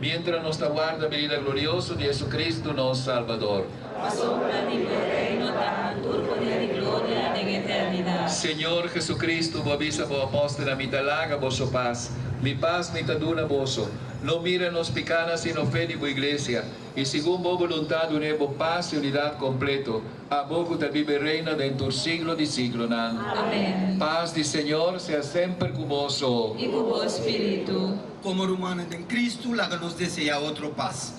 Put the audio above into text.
Mientra nos ta warda benida glorioso di Jesucristo, nos Salbador. Pasobra di bo reino ta hantur, poder i gloria den eternidad. Señor Jesucristo, bo a bisa bo apòstelnan, Mi ta laga boso pas, mi pas mi ta duna boso. No mira nos pikánan, sino fe di bo Iglesia, i segun bo boluntad dun'é bo pas i unidat kompleto, abo ku ta biba i reina den tur siglo di siglonan. Amén. Pas di Señor sea semper ku boso. I ku bo spiritu. Komo rumannan den Kristu, laga nos deseá otro pas.